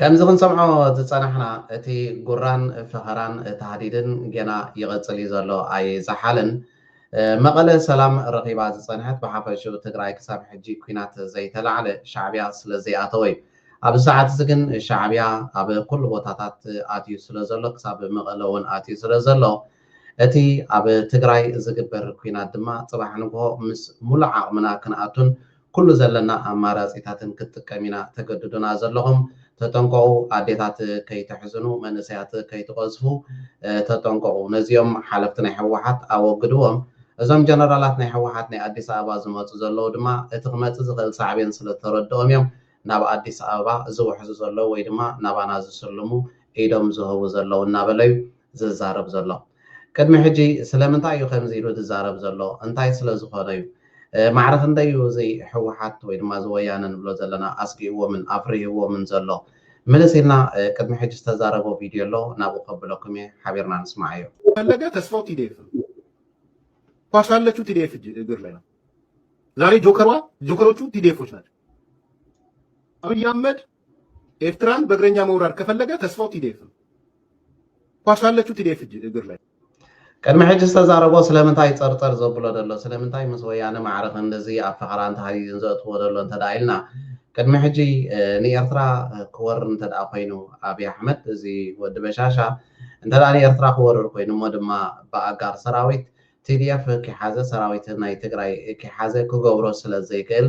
ከምዚ ክንሰምዖ ዝጸናሕና እቲ ጉራን ፈኸራን ታህዲድን ጌና ይቕጽል እዩ ዘሎ ኣይዛሓልን። መቐለ ሰላም ረኺባ ዝጸንሐት ብሓፈሽኡ ትግራይ ክሳብ ሕጂ ኩናት ዘይተላዕለ ሻዕብያ ስለ ዘይኣተወ እዩ። ኣብዚ ሰዓት እዚ ግን ሻዕብያ ኣብ ኩሉ ቦታታት ኣትዩ ስለ ዘሎ ክሳብ መቐለ እውን ኣትዩ ስለ ዘሎ እቲ ኣብ ትግራይ ዝግበር ኩናት ድማ ጽባሕ ንግሆ ምስ ሙሉእ ዓቕምና ክንኣቱን ኩሉ ዘለና ኣማራጺታትን ክንጥቀም ኢና ተገድዱና ዘለኹም ተጠንቀቁ ኣዴታት ከይተሕዝኑ መንእሰያት ከይትቀዝፉ ተጠንቀቁ ነዚኦም ሓለፍቲ ናይ ህወሓት ኣወግድዎም እዞም ጀነራላት ናይ ህወሓት ናይ ኣዲስ ኣበባ ዝመጹ ዘለዉ ድማ እቲ ክመጽእ ዝኽእል ሳዕቤን ስለ ዝተረድኦም እዮም ናብ ኣዲስ ኣበባ ዝውሕዙ ዘለዉ ወይ ድማ ናባና ዝስልሙ ኢዶም ዝህቡ ዘለዉ እናበለ እዩ ዝዛረብ ዘሎ ቅድሚ ሕጂ ስለምንታይ እዩ ከምዚ ኢሉ ዝዛረብ ዘሎ እንታይ ስለ ዝኮነ እዩ ማዕረ ክንደይ እዩ እዚ ሕውሓት ወይ ድማ እዚ ወያነ ንብሎ ዘለና ኣስጊእዎምን ኣፍሪህዎምን ዘሎ ምልስ ኢልና ቅድሚ ሕጂ ዝተዛረቦ ቪድዮ ኣሎ ናብኡ ከብለኩም እየ ሓቢርና ንስማዓዮ። ፈለገ ተስፋው ቲዲኤፍ ነው ኳስ ያለችው ቲዲኤፍ እግር ላይ ነው ዛሬ ጆከሯ ጆከሮቹ ቲዲኤፎች ናቸው አብይ አህመድ ኤርትራን በእግረኛ መውራር ከፈለገ ተስፋው ቲዴፍ ነው። ኳስ አለችው ቲዴፍ እግር ላይ ቅድሚ ሕጂ ዝተዛረቦ ስለምንታይ ጸርጸር ዘብሎ ደሎ ስለምንታይ ምስ ወያነ ማዕረ ክንድዚ ኣብ ፈኸራ እንተሃዩዩን ዘእትዎ ደሎ እንተ ኢልና ቅድሚ ሕጂ ንኤርትራ ክወር እንተ ኮይኑ ኣብዪ ኣሕመድ እዚ ወዲ በሻሻ እንተ ንኤርትራ ክወርር ኮይኑ እሞ ድማ ብኣጋር ሰራዊት ቲዲኤፍ ክሓዘ ሰራዊት ናይ ትግራይ ክሓዘ ክገብሮ ስለ ዘይክእል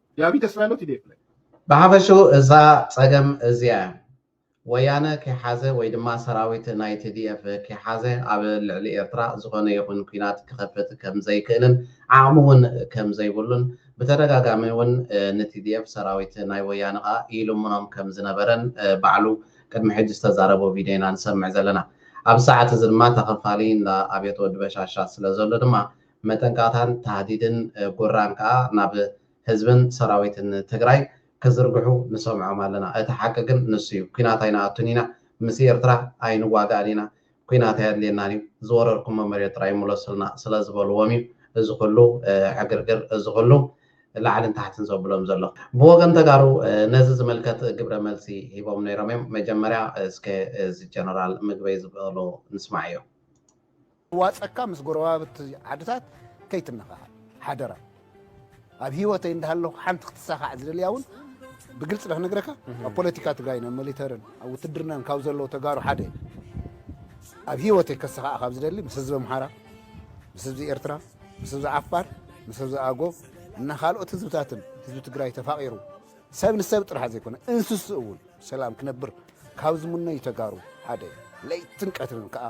ያቢ ተስፋ ኣሎ ቲዴፍ ላይ። ብሓፈሽኡ እዛ ጸገም እዚኣ እያ። ወያነ ከይሓዘ ወይ ድማ ሰራዊት ናይ TDF ከይሓዘ ኣብ ልዕሊ ኤርትራ ዝኾነ ይኹን ኲናት ክኸፍት ከም ዘይክእልን ዓቕሚ ውን ከም ዘይብሉን ብተደጋጋሚ ውን ን TDF ሰራዊት ናይ ወያነ ከኣ ይልምኖም ከም ዝነበረን ባዕሉ ቅድሚ ሕጂ ዝተዛረቦ ቪድዮ ኢና ንሰምዕ ዘለና። ኣብዚ ሰዓት እዚ ድማ ተኸፋሊ እንዳ ኣብየት ወዲ በሻሻ ስለ ዘሎ ድማ መጠንቀቕታን ታህዲድን ጉራን ከኣ ናብ ህዝብን ሰራዊትን ትግራይ ክዝርግሑ ንሰምዖም ኣለና። እቲ ሓቂ ግን ንሱ እዩ። ኲናት ኣይንኣቱን ኢና፣ ምስ ኤርትራ ኣይንዋጋእን ኢና፣ ኲናት ኣየድልየናን እዩ፣ ዝወረርኩሞ መሬት ጥራይ ምለሱልና ስለ ዝበልዎም እዩ እዚ ኹሉ ዕግርግር፣ እዚ ኹሉ ላዕልን ታሕትን ዘብሎም ዘሎ። ብወገን ተጋሩ ነዚ ዝምልከት ግብረ መልሲ ሂቦም ነይሮም እዮም። መጀመርያ እስከ እዚ ጀነራል ምግበይ ዝበሎ ንስማዕዮ። ዋጸካ ምስ ጎረባብቲ ዓድታት ከይትነኻኻእ ሓደራ። ኣብ ሂወተይ እንዳሃለኹ ሓንቲ ክትሳኻዕ ዝደልያ እውን ብግልጺ ዶ ክነግረካ ኣብ ፖለቲካ ትግራይን ኣብ ሚሊተርን ኣብ ውትድርናን ካብ ዘለዉ ተጋሩ ሓደ እየ። ኣብ ሂወተይ ከሳኻዕ ካብ ዝደሊ ምስ ህዝቢ ኣምሓራ፣ ምስ ህዝቢ ኤርትራ፣ ምስ ህዝቢ ዓፋር፣ ምስ ህዝቢ ኣጎብ እና ካልኦት ህዝብታትን ህዝቢ ትግራይ ተፋቒሩ ሰብ ንሰብ ጥራሕ ዘይኮነ እንስሱ እውን ሰላም ክነብር ካብ ዝምነዩ ተጋሩ ሓደ እየ። ለይትን ቀትርን ከዓ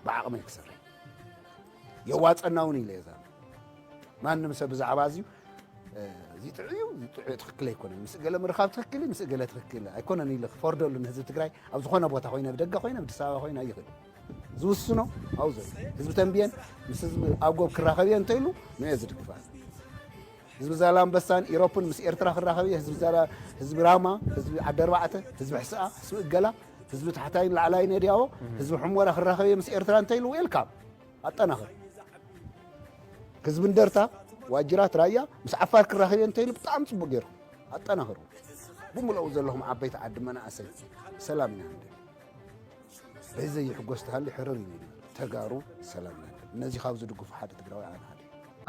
ብዓቕመይ ክሰርሕ የዋፀና እውን ኢለ እዛ ማንም ሰብ ብዛዕባ እዚዩ እዚ ጥዑይ እዩ እዚ ጥዑይ ትኽክል ኣይኮነን ምስ ገለ ምርኻብ ትኽክል እዩ ምስ ገለ ትኽክል ኣይኮነን ኢለ ክፈርደሉ ንህዝቢ ትግራይ ኣብ ዝኾነ ቦታ ኮይነ ኣብ ደገ ኮይነ ኣብ ኣዲስ ኣበባ ኮይነ ኣይኽእል ዝውስኖ ኣብኡ ዘሎ ህዝቢ ተንብየን ምስ ህዝቢ ኣብ ጎብ ክራኸብ እየ እንተኢሉ ንኦ ዝድግፋ ህዝቢ ዛላምበሳን ኢሮፕን ምስ ኤርትራ ክራኸብ እየ፣ ህዝቢ ዛላ፣ ህዝቢ ራማ፣ ህዝቢ ዓዲ ኣርባዕተ፣ ህዝቢ ሕስኣ፣ ህዝቢ እገላ፣ ህዝቢ ታሕታይን ላዕላይን ነድያዎ፣ ህዝቢ ሕሞራ ክራኸብ እየ ምስ ኤርትራ እንተይሉ ዌልካም ኣጠናኽር። ህዝቢ እንደርታ ዋጅራት ራያ ምስ ዓፋር ክራኸብ እየ እንተይሉ ብጣዕሚ ጽቡቅ ገይሩ ኣጠናኽሩ። ብምልኡ ዘለኹም ዓበይቲ ዓዲ መናእሰይ ሰላም ኢና ንደሊ። በዚ ዘይሕጎስ ተሃሊ ሕርር እዩ ኢሉ ተጋሩ ሰላም ናለ ነዚ ካብ ዝድግፉ ሓደ ትግራዋይ ኣነ ሓደ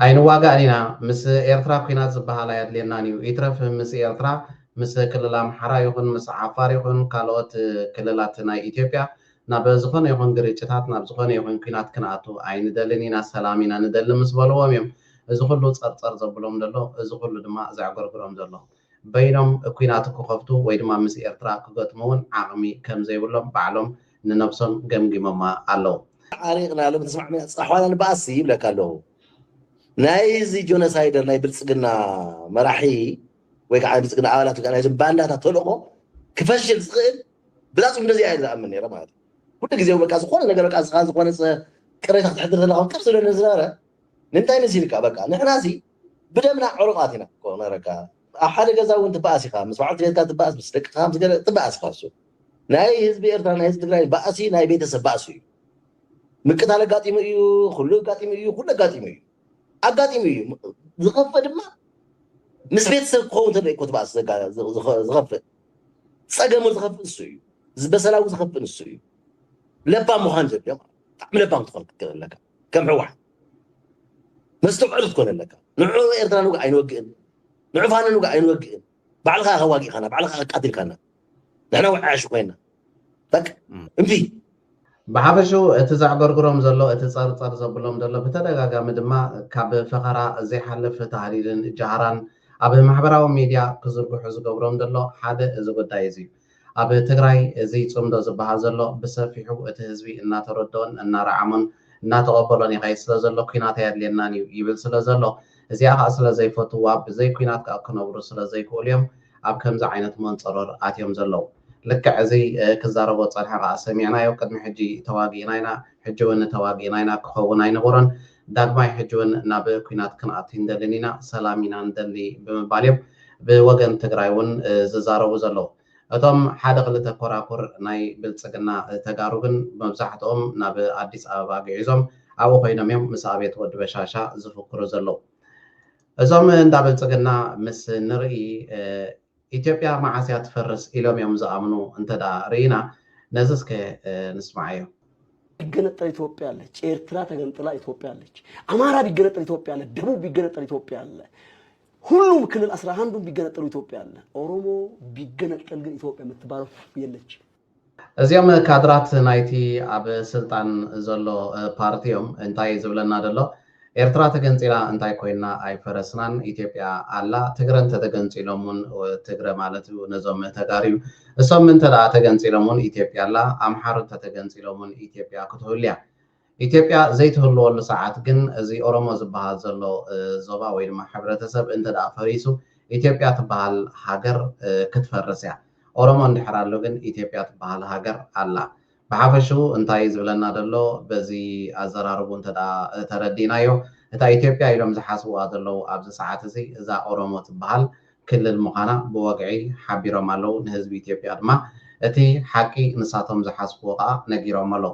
ኣይንዋጋእን ኢና ምስ ኤርትራ ኩናት ዝባሃል ኣያድልየናን እዩ ይትረፍ ምስ ኤርትራ ምስ ክልል ኣምሓራ ይኹን ምስ ዓፋር ይኹን ካልኦት ክልላት ናይ ኢትዮጵያ ናብ ዝኾነ ይኹን ግርጭታት ናብ ዝኾነ ይኹን ኩናት ክንኣቱ ኣይንደልን ኢና ሰላም ኢና ንደሊ ምስ በልዎም እዮም እዚ ኩሉ ጸርጸር ዘብሎም ደሎ እዚ ኩሉ ድማ ዘዕገርግሮም ዘሎ በይኖም ኲናት ክኸፍቱ ወይ ድማ ምስ ኤርትራ ክገጥሙ እውን ዓቕሚ ከም ዘይብሎም ባዕሎም ንነብሶም ገምጊሞማ ኣለዉ። ተዓሪቕናሎም ተስማዕሚዕና ጸሓዋና ንበኣስሲ ይብለካ ኣለኹ። ናይዚ ጆነሳይደር ናይ ብልጽግና መራሒ ወይ ከኣ ናይ ብልጽግና ኣባላት ወይ ከኣ ናይዞም ባንዳታት ተልእኾ ክፈሽል ዝኽእል ብላጹ እንደዚኣ እየ ዝኣምን ነይረ ማለት እዩ። ኩሉ ግዜ በቃ ዝኾነ ነገር በቃ ንስኻ ዝኾነ ቅሬታ ከተሕድር ተለኻ ከም ዝብለኒ ዝነበረ ንምንታይ መሲልካ በቃ ንሕናሲ ብደምና ዕሩቓት ኢና እኮ ነረካ ኣብ ሓደ ገዛ ውን ትበኣስ ኢኻ ምስ በዓልቲ ቤትካ ትበኣስ ምስ ደቅኻ ምስ ገለ ትበኣስ ኢኻ እሱ ናይ ህዝቢ ኤርትራ ናይ ህዝቢ ትግራይ ባእሲ ናይ ቤተሰብ ባእሲ እዩ ምቅታል ኣጋጢሙ እዩ ኩሉ ኣጋጢሙ እዩ ኩሉ ኣጋጢሙ እዩ ኣጋጢሙ እዩ ዝኸፍእ ድማ ምስ ቤተሰብ ክኸውን ተሎ እኮ ትበኣስ ዝኸፍእ ጸገሙ ዝኸፍእ እሱ እዩ ዝበሰላዊ ዝኸፍእ ንሱ እዩ ለባም ምዃን ዘድልዮ ብጣዕሚ ለባም ትኾን ክትገብር ኣለካ ከም ሕወሓት መስተውዕል ክትኮን ኣለካ ንዑ ኤርትራ ንውግእ ኣይንወግእን ንዑ ፋኖ ንውግእ ኣይንወግእን ባዕልካ ኢኻ ዋጊእካና ባዕልካ ኣቃቲልካና ንሕና ውዓያሹ ኮይና በቃ እምቢ ብሓፈሽኡ እቲ ዘዕገርግሮም ዘሎ እቲ ጸርጸር ዘብሎም ዘሎ ብተደጋጋሚ ድማ ካብ ፈኸራ ዘይሓልፍ ተሃዲድን ጃህራን ኣብ ማሕበራዊ ሚድያ ክዝርግሑ ዝገብሮም ዘሎ ሓደ እዚ ጉዳይ እዚ እዩ ኣብ ትግራይ እዚ ፅምዶ ዝብሃል ዘሎ ብሰፊሑ እቲ ህዝቢ እናተረድኦን እናረዓሞን እናተቐበሎን ይኸይድ ስለዘሎ ኲናት ኣየድልየናን እዩ ይብል ስለዘሎ እዚኣ ከዓ ስለዘይፈትውዋ ብዘይ ኲናት ከዓ ክነብሩ ስለዘይክእሉ እዮም ኣብ ከምዚ ዓይነት መንፀሮር ኣትዮም ዘለው። ልክዕ እዚ ክዛረቦ ዝፀንሐ ከዓ ሰሚዕናዮ ቅድሚ ሕጂ ተዋጊእና ኢና ሕጂ እውን ተዋጊእና ኢና ክኸውን ኣይነበሮን ዳግማይ ሕጂ እውን ናብ ኲናት ክንኣቱ ኣይንደልን ኢና፣ ሰላም ኢና ንደሊ ብምባል እዮም ብወገን ትግራይ እውን ዝዛረቡ ዘለዉ። እቶም ሓደ ክልተ ኮራኩር ናይ ብልፅግና ተጋሩ ግን መብዛሕትኦም ናብ ኣዲስ ኣበባ ግዒዞም ኣብኡ ኮይኖም እዮም ምስ ኣብየት ወዲ በሻሻ ዝፍክሩ ዘለዉ። እዞም እንዳ ብልፅግና ምስ ንርኢ። ኢትዮጵያ መዓስ እያ ትፈርስ ኢሎም እዮም ዝኣምኑ እንተድኣ ርኢና ነዚ እስከ ንስምዓዮ። ቢገነጠል ኢትዮጵያ አለች። ኤርትራ ተገንጥላ ኢትዮጵያ አለች። አማራ ቢገነጠል ኢትዮጵያ አለ። ደቡብ ቢገነጠል ኢትዮጵያ አለ። ሁሉም ክልል አስራ አንዱም ቢገነጠሉ ኢትዮጵያ አለ። ኦሮሞ ቢገነጠል ግን ኢትዮጵያ የምትባለው የለችም። እዚኦም ካድራት ናይቲ ኣብ ስልጣን ዘሎ ፓርቲ እዮም እንታይ እዩ ዝብለና ዘሎ ኤርትራ ተገንጺላ እንታይ ኮይና ኣይፈረስናን ኢትዮጵያ ኣላ ትግረ እንተተገንጺሎም ውን ትግረ ማለት እዩ ነዞም ተጋሩ እዩ እሶም እንተ ተገንጺሎም ውን ኢትዮጵያ ኣላ ኣምሓሩ እንተተገንጺሎም ውን ኢትዮጵያ ክትህሉ እያ ኢትዮጵያ ዘይትህልወሉ ሰዓት ግን እዚ ኦሮሞ ዝበሃል ዘሎ ዞባ ወይ ድማ ሕብረተሰብ እንተድኣ ፈሪሱ ኢትዮጵያ ትበሃል ሃገር ክትፈርስ እያ። ኦሮሞ እንድሕር ኣሎ ግን ኢትዮጵያ ትበሃል ሃገር ኣላ። ብሓፈሽኡ እንታይ እዩ ዝብለና ዘሎ በዚ ኣዘራርብኡ እንተድኣ ተረዲእናዮ እታ ኢትዮጵያ ኢሎም ዝሓስብዋ ዘለዉ ኣብዚ ሰዓት እዚ እዛ ኦሮሞ ትበሃል ክልል ምዃና ብወግዒ ሓቢሮም ኣለዉ። ንህዝቢ ኢትዮጵያ ድማ እቲ ሓቂ ንሳቶም ዝሓስብዎ ከኣ ነጊሮሞ ኣለዉ።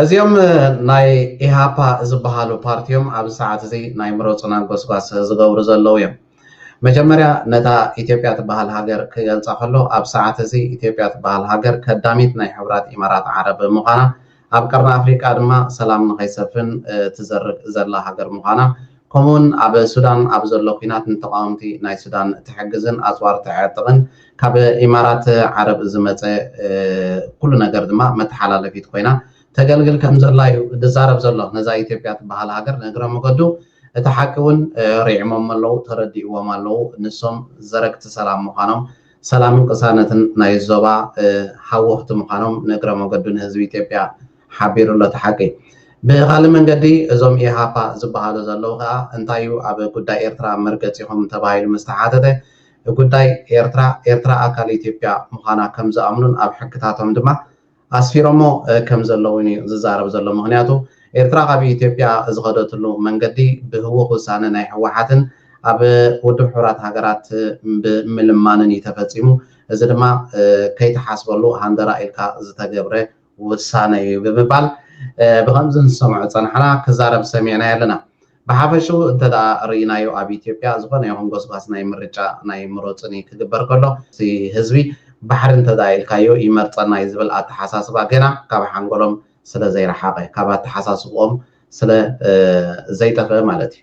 እዚኦም ናይ ኢሃፓ ዝበሃሉ ፓርቲ እዮም ኣብዚ ሰዓት እዚ ናይ ምረፁና ጎስጓስ ዝገብሩ ዘለዉ እዮም መጀመርያ ነታ ኢትዮጵያ ትበሃል ሃገር ክገልፃ ከሎ ኣብ ሰዓት እዚ ኢትዮጵያ ትበሃል ሃገር ከዳሚት ናይ ሕቡራት ኢማራት ዓረብ ምዃና ኣብ ቀርኒ ኣፍሪቃ ድማ ሰላም ንኸይሰፍን ትዘርግ ዘላ ሃገር ምዃና ከምኡ'ውን ኣብ ሱዳን ኣብ ዘሎ ኲናት ንተቓወምቲ ናይ ሱዳን እትሕግዝን ኣጽዋር እተዕጥቕን ካብ ኢማራት ዓረብ ዝመጸ ኩሉ ነገር ድማ መተሓላለፊት ኮይና ተገልግል ከምዘላ'ዩ ዝዛረብ ዘሎ ነዛ ኢትዮጵያ ትበሃል ሃገር ንእግረ መገዱ እቲ ሓቂ ውን ሪዕሞሞ ኣለው ተረዲእዎም ኣለው ንሶም ዘረግቲ ሰላም ምዃኖም ሰላምን ቅሳነትን ናይዞባ ሃወኽቲ ምዃኖም ንእግረ መገዱ ንህዝቢ ኢትዮጵያ ሓቢሩ ኣሎ እቲ ሓቂ። ብኻልእ መንገዲ እዞም ኢሃፓ ዝበሃሉ ዘለዉ ከኣ እንታይ እዩ ኣብ ጉዳይ ኤርትራ መርገጺኹም ተባሂሉ ምስ ተሓተተ ጉዳይ ኤርትራ ኤርትራ ኣካል ኢትዮጵያ ምዃና ከም ዝኣምኑን ኣብ ሕግታቶም ድማ ኣስፊሮሞ ከም ዘለዉን እዩ ዝዛረብ ዘሎ ምኽንያቱ ኤርትራ ካብ ኢትዮጵያ ዝኸደትሉ መንገዲ ብህዉኽ ውሳነ ናይ ህወሓትን ኣብ ውድብ ሕቡራት ሃገራት ብምልማንን እዩ ተፈጺሙ እዚ ድማ ከይትሓስበሉ ሃንደራ ኢልካ ዝተገብረ ውሳነ እዩ ብምባል ብኸምዚ ንሰምዖ ጸናሕና ክዛረብ ሰሚዕናዮ ኣለና። ብሓፈሽኡ እንተድኣ ርኢናዮ ኣብ ኢትዮጵያ ዝኾነ ይኹን ጎስጓስ ናይ ምርጫ ናይ ምሩጽኒ ክግበር ከሎ እቲ ህዝቢ ባሕሪ እንተድኣ ኢልካዮ ይመርጸና እዩ ዝብል ኣተሓሳስባ ገና ካብ ሓንጎሎም ስለዘይረሓቐ ካብ ኣተሓሳስብኦም ስለ ዘይጠፍእ ማለት እዩ።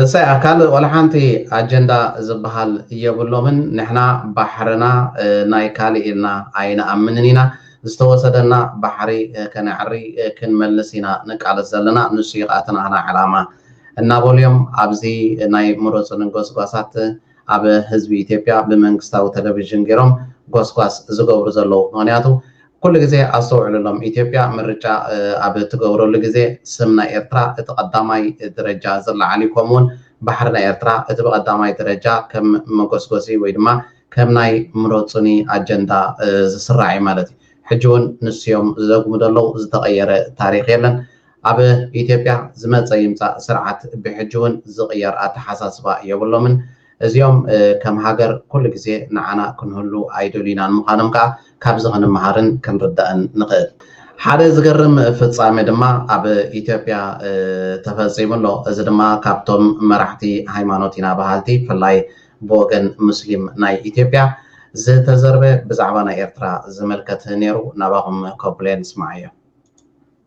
እሰይ ኣካል ወላሓንቲ ኣጀንዳ ዝባሃል የብሎምን ንሕና ባሕርና ናይ ካሊእ ኢልና ኣይንኣምንን ኢና ዝተወሰደና ባሕሪ ከነዕሪ ክንመልስ ኢና ንቃለስ ዘለና ንሱ እዩ ካኣ እቲ ናህና ዕላማ እናበሉ እዮም ኣብዚ ናይ ምረፁኒ ጎስጓሳት ኣብ ህዝቢ ኢትዮጵያ ብመንግስታዊ ተለቪዥን ጌሮም ጎስጓስ ዝገብሩ ዘለዉ ምኽንያቱ ኩሉ ግዜ ኣስተውዕሉሎም ኢትዮጵያ ምርጫ ኣብ ትገብረሉ ግዜ ስም ናይ ኤርትራ እቲ ቀዳማይ ደረጃ ዝለዓል እዩ ከምኡ ውን ባሕሪ ናይ ኤርትራ እቲ ብቀዳማይ ደረጃ ከም መጎስጎሲ ወይ ድማ ከም ናይ ምረጹኒ ኣጀንዳ ዝስራዕ እዩ ማለት እዩ ሕጂ ውን ንሱ እዮም ዝደግሙ ዘለዉ ዝተቀየረ ታሪኽ የለን ኣብ ኢትዮጵያ ዝመፀ ይምፃእ ስርዓት ብሕጂ እውን ዝቕየር ኣተሓሳስባ የብሎምን። እዚኦም ከም ሃገር ኩሉ ግዜ ንዓና ክንህሉ ኣይደልዩናን ምዃኖም ከዓ ካብዚ ክንመሃርን ክንርዳእን ንኽእል። ሓደ ዝገርም ፍፃመ ድማ ኣብ ኢትዮጵያ ተፈፂሙ ኣሎ። እዚ ድማ ካብቶም መራሕቲ ሃይማኖት ኢና በሃልቲ ብፍላይ ብወገን ሙስሊም ናይ ኢትዮጵያ ዝተዘርበ ብዛዕባ ናይ ኤርትራ ዝምልከት ነይሩ ናባኹም ከብሎ እየ ንስማዓዮ።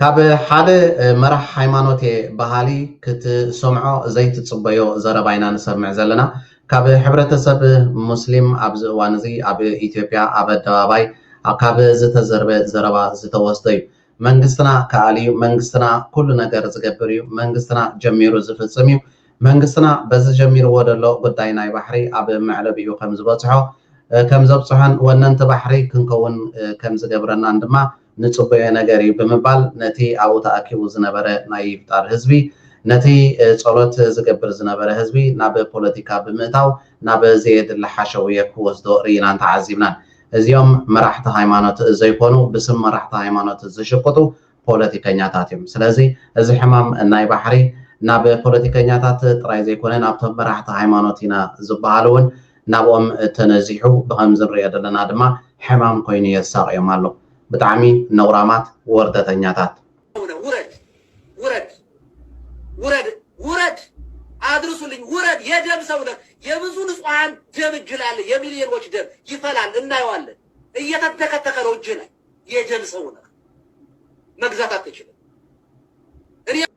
ካብ ሓደ መራሕ ሃይማኖት እየ በሃሊ ክትሰምዖ ዘይትጽበዮ ዘረባ ኢና ንሰምዕ ዘለና። ካብ ሕብረተሰብ ሙስሊም ኣብዚ እዋን እዚ ኣብ ኢትዮጵያ ኣብ ኣደባባይ ካብ ዝተዘርበ ዘረባ ዝተወስደ እዩ። መንግስትና ክኣል እዩ፣ መንግስትና ኩሉ ነገር ዝገብር እዩ፣ መንግስትና ጀሚሩ ዝፍጽም እዩ፣ መንግስትና በዚ ጀሚርዎ ዘሎ ጉዳይ ናይ ባሕሪ ኣብ መዕለቢኡ ከምዝበጽሖ ከምዘብጽሖን ወነንቲ ባሕሪ ክንከውን ከምዝገብረናን ድማ ንጽበዮ ነገር እዩ ብምባል ነቲ ኣብኡ ተኣኪቡ ዝነበረ ናይ ይፍጣር ህዝቢ ነቲ ጸሎት ዝገብር ዝነበረ ህዝቢ ናብ ፖለቲካ ብምእታው ናብ ዘየድሊ ሓሸውየ ክወስዶ ርኢናን ተዓዚብናን። እዚኦም መራሕቲ ሃይማኖት ዘይኮኑ ብስም መራሕቲ ሃይማኖት ዝሽቅጡ ፖለቲከኛታት እዮም። ስለዚ እዚ ሕማም ናይ ባሕሪ ናብ ፖለቲከኛታት ጥራይ ዘይኮነ ናብቶም መራሕቲ ሃይማኖት ኢና ዝበሃሉ እውን ናብኦም ተነዚሑ ብኸምዚ ንሪኦ ዘለና ድማ ሕማም ኮይኑ የሳቕዮም ኣሎ ብጣዕሚ ነውራማት ወርደተኛታት። ኣቡነ ውረድ ውረድ ውረድ ውረድ ኣድርሱልኝ ውረድ የደም ሰው ነህ የብዙ ንጹሃን ደም እጅህ ላይ አለ የሚሊዮኖች ደም ይፈላል እናየዋለን እየተተከተከ ነው እጅህ ላይ የደም ሰው ነህ መግዛት አትችልም እኔ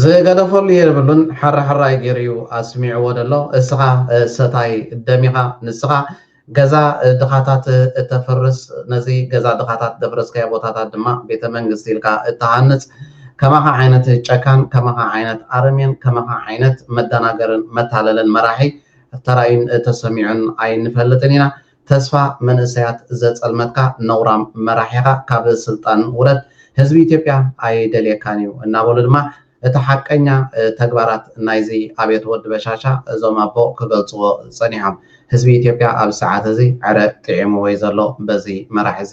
ዝገደፈሉ የብሉን ሓራሕራይ ገይሩ እዩ ኣስሚዕዎ ዘሎ እስኻ ሰታይ ደም ኢኻ ንስኻ ገዛ ድኻታት እተፍርስ ነዚ ገዛ ድኻታት ዘፍረስካዮ ቦታታት ድማ ቤተ መንግስቲ ኢልካ እትሃንፅ ከማኻ ዓይነት ጨካን ከማኻ ዓይነት ኣረሜን ከማኻ ዓይነት መደናገርን መታለልን መራሒ ተራእዩን ተሰሚዑን ኣይንፈልጥን ኢና ተስፋ መንእሰያት ዘጸልመትካ ነውራም መራሒኻ ካብ ስልጣን ውረድ ህዝቢ ኢትዮጵያ ኣይደልየካን እዩ እናበሉ ድማ እቲ ሓቀኛ ተግባራት ናይዚ ኣብየት ወዲ በሻሻ እዞም ኣቦ ክገልጽዎ ጸኒሖም። ህዝቢ ኢትዮጵያ ኣብዚ ሰዓት እዚ ዕረ ጢዒምዎ እዩ ዘሎ በዚ መራሒ እዚ።